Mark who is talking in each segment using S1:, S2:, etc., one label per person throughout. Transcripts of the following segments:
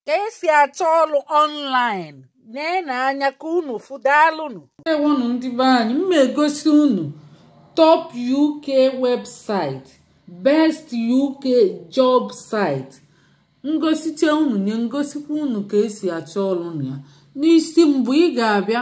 S1: ka esi achọ ọrụ ọnlaịn na-ene anya ka unu fụ daalụnụ ndeewonụ ndị be
S2: anyị m egosi unu top uk website best uk job site m gosichaa unu nye m gosikwa unu ka esi achọ ọrụ na ya n'isi mbụ ị ga-abịa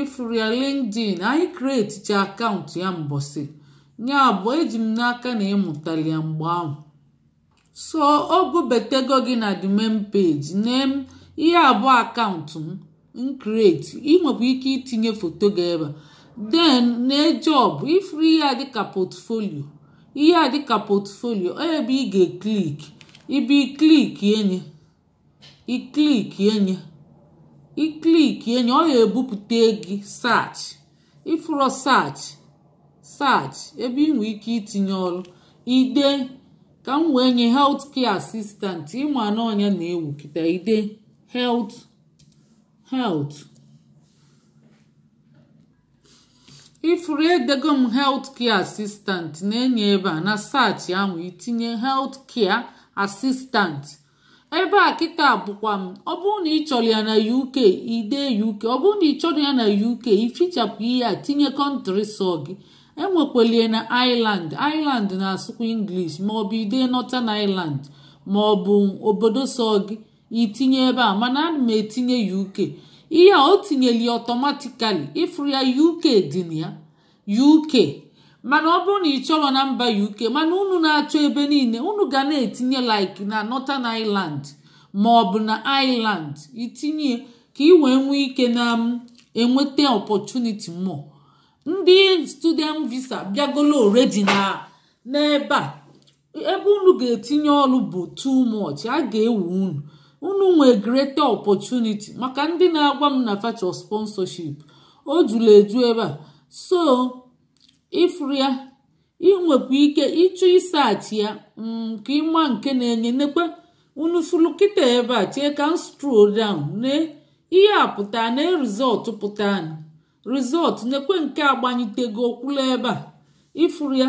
S2: ifuru ya linkedin anyị kreticha akaụntụ ya mbọsị ya bụ eji m n'aka na ịmụtali ya mgbe ahụ so o bubatago gị na the main page nee m ihe a bụ akaụntụ m kreti ị nwekwa ike itinye foto gị ebe a then na job ifuru ihe a dịka portfolio ihe a dịka portfolio ebe ị ga-ekliki ị bịa klikie nye ị klikie nye ị klikie nye ọ ya ebupụta gị search ifuru search search ebe ị nwee ike itinye ọrụ ide ka m wee nye health care assistant ịma na ọ nya na-ewu kịta ide health health ifuru edego m health care assistant na-enye ebe a na search ahụ itinye health care assistant ebe a kịta bụkwa m ọ bụrụ na ị chọrọ ya na uk ide uk ọ bụrụ na ị chọrọ ya na uk ifichapụ ihe a tinye kọntrị sọ gị enwekwalie na ireland ireland na-asụkwa english maọbụ ide northern ireland maọbụ obodo sọ gị itinye ebe a mana ana m etinye uk ihe a o tinyeli ọtọmatikali ịfụrụ ya uk dị na ya uk mana ọ bụrụ na ị chọrọ na mba uk mana unu na-achọ ebe niile unu ga na-etinye like na northern ireland ma ọ bụ na ireland itinye ka ị wee nwee ike na enweta opportunity more ndị student visa bịagolo already na n'ebe a ebe unu ga-etinye ọrụ bụ too much a ga-ewe unu unu nwee greater opportunity maka ndị na-agwa m na fa chọ sponsorship o juru eju ebe a so ifuru ya inwekwa ike ịchọ isachi ya mm, ka ịma nke na-enye nekwe unu furu kịta ebe a chee ka m stroll down na ihe a pụta na rizọtụ pụta rizọtụ nekwe nke a gbanyitego kwụla ebe a ifuru ya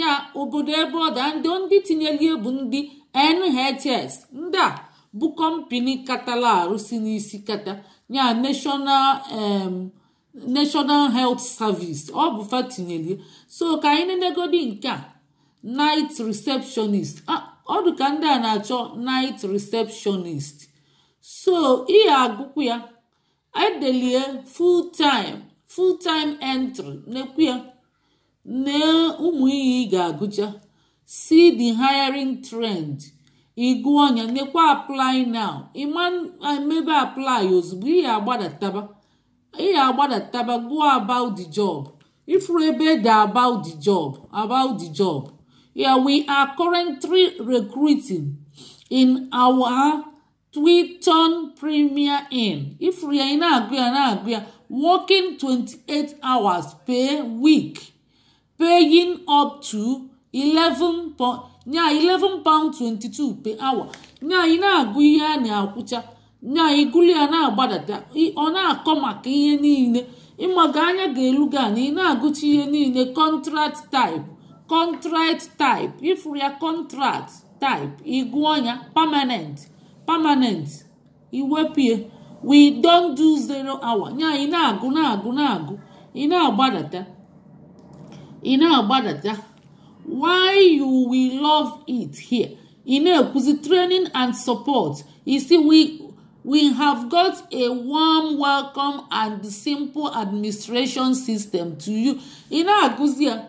S2: ya obodo ebe ọ dị ndị ndị tinyelie bụ ndị NHS ndị a bụ kọmpini katala arụ si n'isi kata ya National um, National Health Service ọ bụ fa tinyelie so ka anyị nenegodi nke a night receptionist ọ dị ka ndị a na-achọ night receptionist so ị ya-agụkwu ya edelie full time full time entry nekwu ya na ụmụ ihe ị ga-agụcha see the hiring trend ị gụọ nya nekwa apply now ị ma emebe apply ozugbo ị ya-agbadataba ị ya-agbadataba go about the job ị fụrụ ebe e de about the job about the job yeah we are currently recruiting in our Twiton Premier Inn ị fụrụ ya ị na-agụ ya na-agụ ya working 28 hours per week paying up to nya 11 pound 22 per hour nya ị na-agụ ihe a na-akwụcha nya ị gụlụ ya na-agbadata ọ na-akọ maka ihe niile ị mago anya ga-elu gị ana ị na-agụcha ihe niile contract type contract type ị fụrụ ya contract type ị gụọ nya permanent permanent iwepie we don't do zero hour nya ị na-agụ na-agụ na-agụ ị na-agbadata ị na-agbadata why you will love it here ị na-ekwuzi training and support ị sị we we have got a warm welcome and simple administration system to you ị na-agụzi ya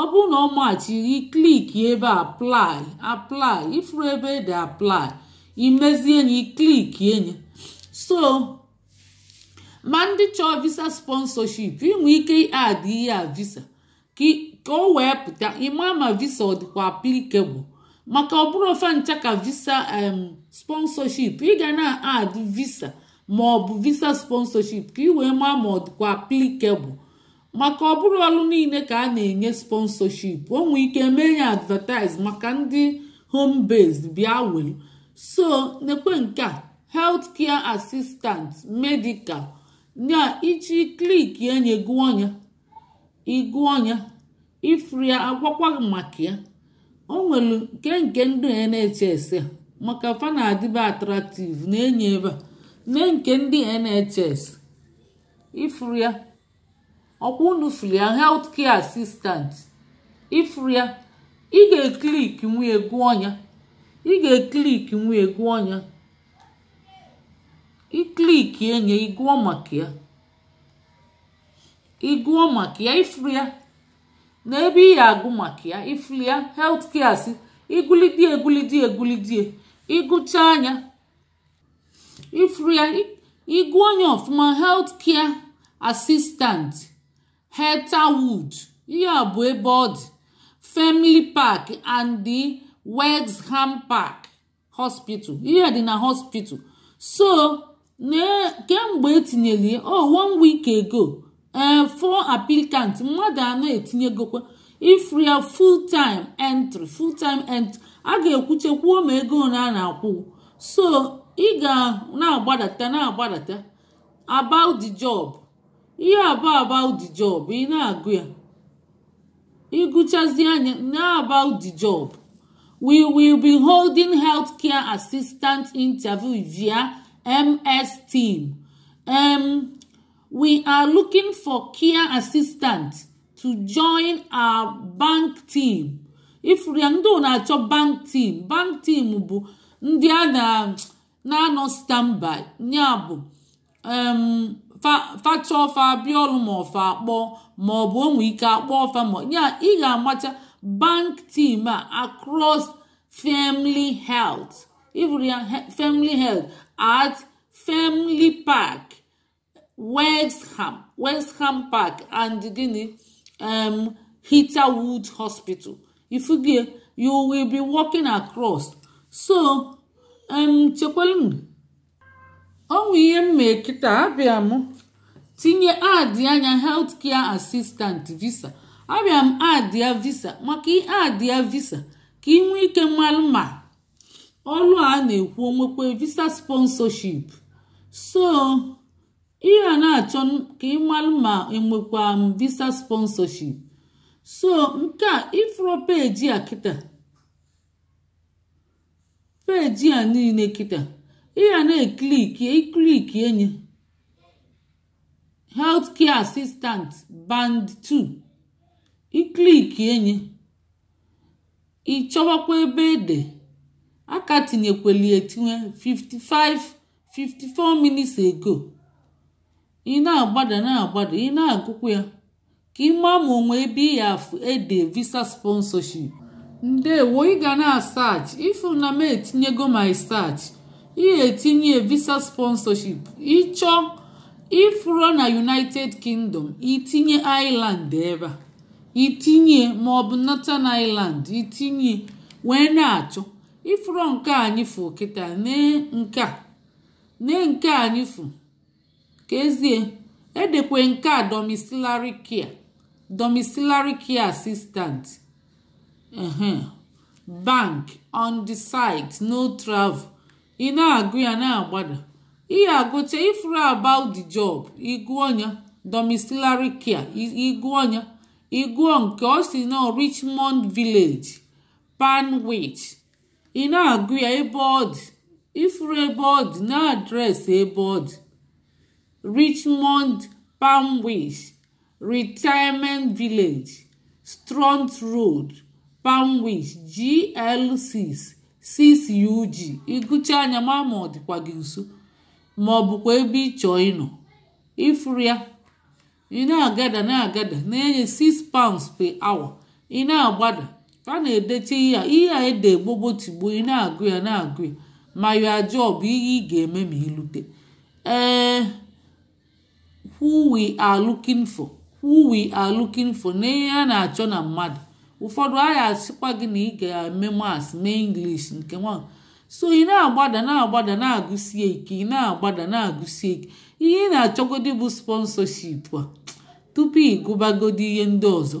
S2: ọ bụrụ na ọ machi gị click ebe apply apply ị fụrụ ebe e de apply i mezie nye i clickie nye so ma ndị chọọ visa sponsorship i nwee ike add ihe a visa ka o wee pụta ị ma ma visa ọ dịkwa applicable maka ọ bụrọ ife ncha ka visa sponsorship ị ga na-add visa ma ọ bụ visa sponsorship ka ị wee maa ma ọ dịkwa applicable maka ọ bụrọ ọrụ niile ka a na-enye sponsorship o nwee ike mee ya advertise maka ndị home based bịa welu so nekwe nke a health care assistant medical nya ị chọọ ị clickie nye gụọ nya ị gụọ nya ị fụrụ ya a gwakwa gị maka ya o nwere nke nke ndị NHS a maka fa na-adịbe attractive nee nye ebe a nee nke ndị NHS ị fụrụ ya ọ kwa unu fụrụ ya health care assistant ị fụrụ ya ị ga-eclick wee gụọ nya ị ga-eclick wee gụọ nya i clickie nye ị gụọ maka ya ị gụọ maka ya ị fụrụ ya na ebe ị ya-agụ maka ya ị fụrụ ya health care assis igulidie egulidie egulidie ị gụchaa nya ị fụrụ ya ị gụọ nya ọfụma health care assistant Heatherwood ihe a bụ ebe ọ dị Frimley Park and the Wexham Park hospital ihe dị na hospital so kemgbe e tinyere ya oh one week ago ee eh, four applicants mmadụ anọ etinyegokwa ị fụrụ ya full time entry full time entry a ga-ekwuchekwuo ma ego ole a na-akwụ so ị ga na-agbadata na-agbadata about the job ihe a bụ about the job ị na-agụ ya ị gụchazịa nya na about the job we will be holding healthcare assistant interview via MS Team. Um, We are looking for care assistant to join our bank team. Ị fụrụ ya ndị ọ na-achọ bank team. Bank team bụ ndị a na-anọ standby nya bụ um, fa chọọ fa abịa ọrụ ma ọ fa akpọọ ma ọ bụ o nwee ike akpọọ fa ma ya ị ga-amacha bank team a across Frimley Health. Ị fụrụ ya Frimley Health at Frimley Park. Wexham Wexham Park and gịnị um, Heatherwood Hospital ị fụgo ya you will be working across so um, chekwalụ o nwee ihe m mee kịta abịa m tinye adịa nya health care assistant visa abịa m adịa visa maka ị adịa visa ka ị nwee ike malụ ma ọrụ a na-ekwu o nwekwe visa sponsorship so ị ya na-achọ ka ị malụ ma enwekwa m visa sponsorship so nke a ị fụrụ peji a kịta peji a niile kịta ị ya na-ekliki ị klikie nya healthcare assistant band 2 ị klikie nya ị chọwakwa ebe e de a ka tinyekweli etinye 55 54 minutes ago ị na-agbada na-agbada ị na-agụkwa ya ka ị maa ma o nwee ebe ị ya afụ e de visa sponsorship ndewo ị ga na-asach ị fụ na m etinyego my search ị tinye visa sponsorship ị chọọ ị fụrọ na united kingdom ị tinye ireland ebe a ị tinye ma ọ bụ northern ireland ị tinye wee na-achọ ị fụrụ nke anyị fụ kịta nee nke a nee nke anyị fụ ka ezie e dekwe nke a domiciliary care domiciliary care assistant bank on the site no travel ị na-agụ ya na-agbada ị ya-agụcha ị fụrụ about the job ị gụọ ya domiciliary care ị gụọ ya ị gụọ nke ọ sị na richmond village painswick ị na-agụ ya ebe ọ dị ị fụrụ ebe ọ dị na adreesị ebe ọ dị richmond painswick Retirement Village, Stroud Road, Painswick, GL6, 6UG ị gụchaa nya ma ma ọ dịkwa gị nso ma ọ bụkwa ebe ị chọọ ịnọ ị fụrụ ya ị na-agada na-agada na-enye 6 pounds per hour ị na-agbada a na-edecha ihe a ihe a ede gbogbo tigbo ị na-agụ ya na-agụ ya ma ya job ihe ị ga-eme ma i lute ee who we are looking for who we are looking for na ihe a na-achọ na mmadụ ụfọdụ a ya-asịkwa gị na ị ga-eme maths mee english nke nwa so ị na-agbada na-agbada na-agụsie ike ị na-agbada na-agụsie ike ihe ị na-achọgodi bụ sponsorship a tupu ị gụbagodi ihe ndị ọzọ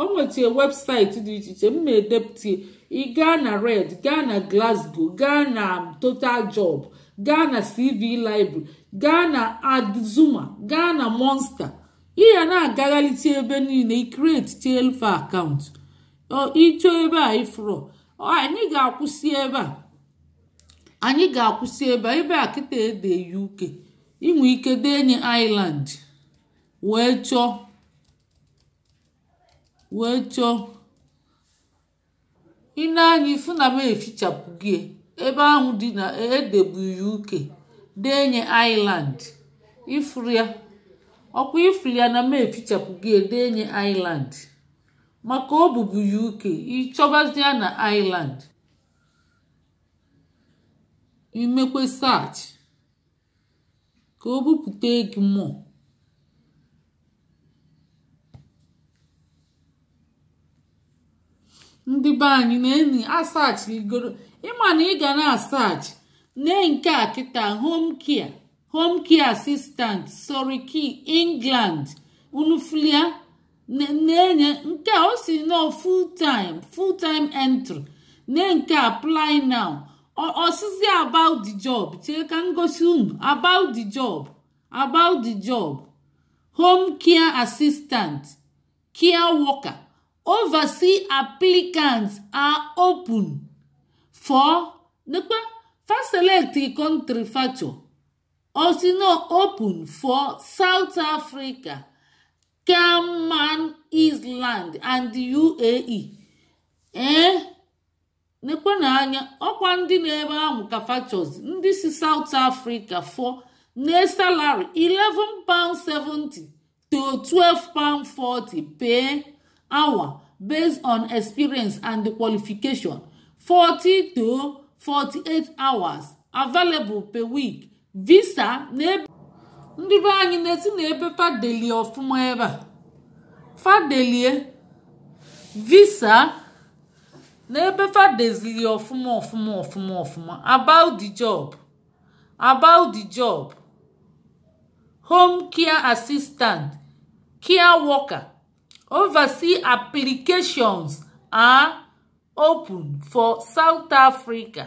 S2: o nwetara webụsaịtị dị iche iche m ma edepụta ị gaa na reed gaa na glasgow gaa na total job gaa na cv library gaa na adzuna gaa na monster ị ya na-agagharịcha ebe niile ị createchalụ fa akaụntụ ịchọ ebe a ị fụrụ anyị ga-akwụsị ebe a anyị ga-akwụsị ebe a ebe a kịta e de uk i nwe ike denye ireland wee chọọ wee chọọ i nee anya ị fụ na m efichapụgo ebe ahụ dị na e debu uk denye ireland ị fụrụ ya ọkwa ị fụrụ ya na m efichapụgo ya denye ireland maka ọ bụbu uk ị chọbazi ya na ireland i mekwe search ka o bupụta gị more ndị be anyị na-enyi asachigoro ị ma na ị ga na-asachi nee nke a kịta home care home care assistant surrey key england unu fụlụ ya na-enye nke o si nọ full time full time entry na nke apply now ọsịzi about the job chee ka ngosi unu about the job about the job home care assistant care worker oversee applicants are open for nekpe fa select country facho osino open for south africa Cayman Island and UAE ee eh? nekwa na anya ọkwa ndị nọ ebe ahụ ka fa choose ndị si South Africa fụ na salary 11 pound 70 to 12 pound 40 per hour based on experience and qualification 40 to 48 hours available per week visa na ebe ndị be anyị na-esi na ebe fa delie ọfụma ebe a fa delie visa na ebe fa dezili ọfụma ọfụma ọfụma ọfụma about the job about the job home care assistant care worker overseas applications are open for south africa